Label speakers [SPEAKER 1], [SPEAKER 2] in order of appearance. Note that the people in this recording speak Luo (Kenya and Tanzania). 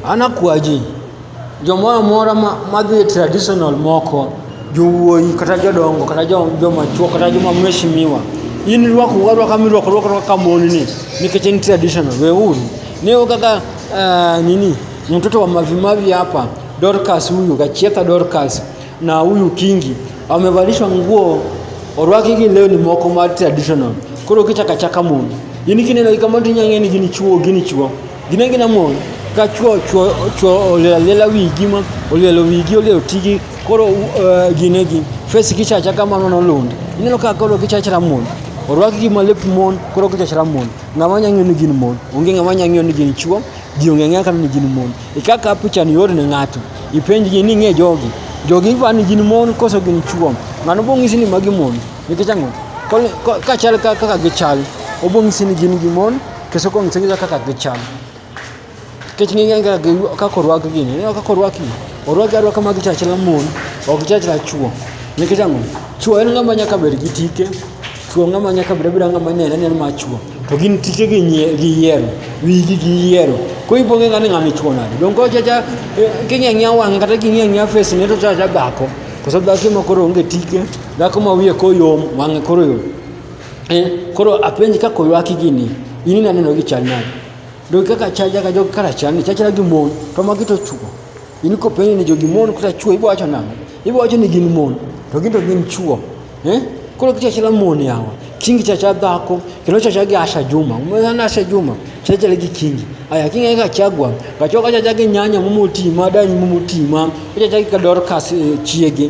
[SPEAKER 1] Anakwaji jomoro amora madhi e traditional moko jowuoyi kata jodongo kata joma chuo kata joma mheshimiwa in rwako warwaka mirwako rwako kaka mon ni nikech en traditional weuru neo kaka uh, nini ni mtoto wa mavimavi hapa Dorcas huyu Gachietha Dorcas na huyu Kingi wamevalishwa nguo orwaki gi leo ni moko ma traditional koro kichaka chaka mon in kineno ikamati nyang'eni gini chuo gini chuo Ginengi na mon ka chwo chwo chwo olelela wigi ma olelo wigi olelo tigi koro uh, ginegi face kichacha kamano nolund ineno ka koro kichachra mon orwak gi malep mon koro kichachra mon ng'ama nya ng'eyo ni gin mon onge ng'ama nya ng'eyo ni gin chwo ji onge ng'eyo kata ni gin mon e kaka pichani yor ne ng'ato ipenjgi ni ng'e jogi jogi pa ni gin mon koso gin chwo ng'ano bong'isi ni magi mon nikech ang'o kachal kaka gichal obong'isi ni gin gi mon To soko msingi za kaka gichal. Kech ni genga gi kaka orwak gi ni, kaka orwak gi. Orwak gi arwaka mag chach la mon, ok chach la chuo. Nikech ang'o? Chuo en ng'ama nyaka bed gi tike. Chuo ng'ama nyaka bed bira ng'ama nene nene ma chuo. To gin tike gi nyie gi yiero, wigi gi yiero. Ko iponge ng'ani ng'ama chuo nade? Don ko chacha king'e ng'ia wang' kata king'e ng'ia face ne to chacha dhako. Koso dhako ma koro onge tike, dhako ma wiye koyom, wang'e koro yom. eh, koro apenji kaka oywaki gini in inaneno gi chal nade dog kaka chal jaka jog kara chal ni chachra gi mon to magi to chuo in kopenji ni jogi mon kata chuo ibo wacho nang'o ibo wacho ni gin mon to gin to gin chuo eh? koro kichachra mon yawa kingi chacha dhako kendo chacha gi asha juma umezana asha juma chachra gi kingi aya kingi eka chagwa kachoka chacha gi nyanya mumutima danyi mumutima chacha gi kadorkas eh, chiege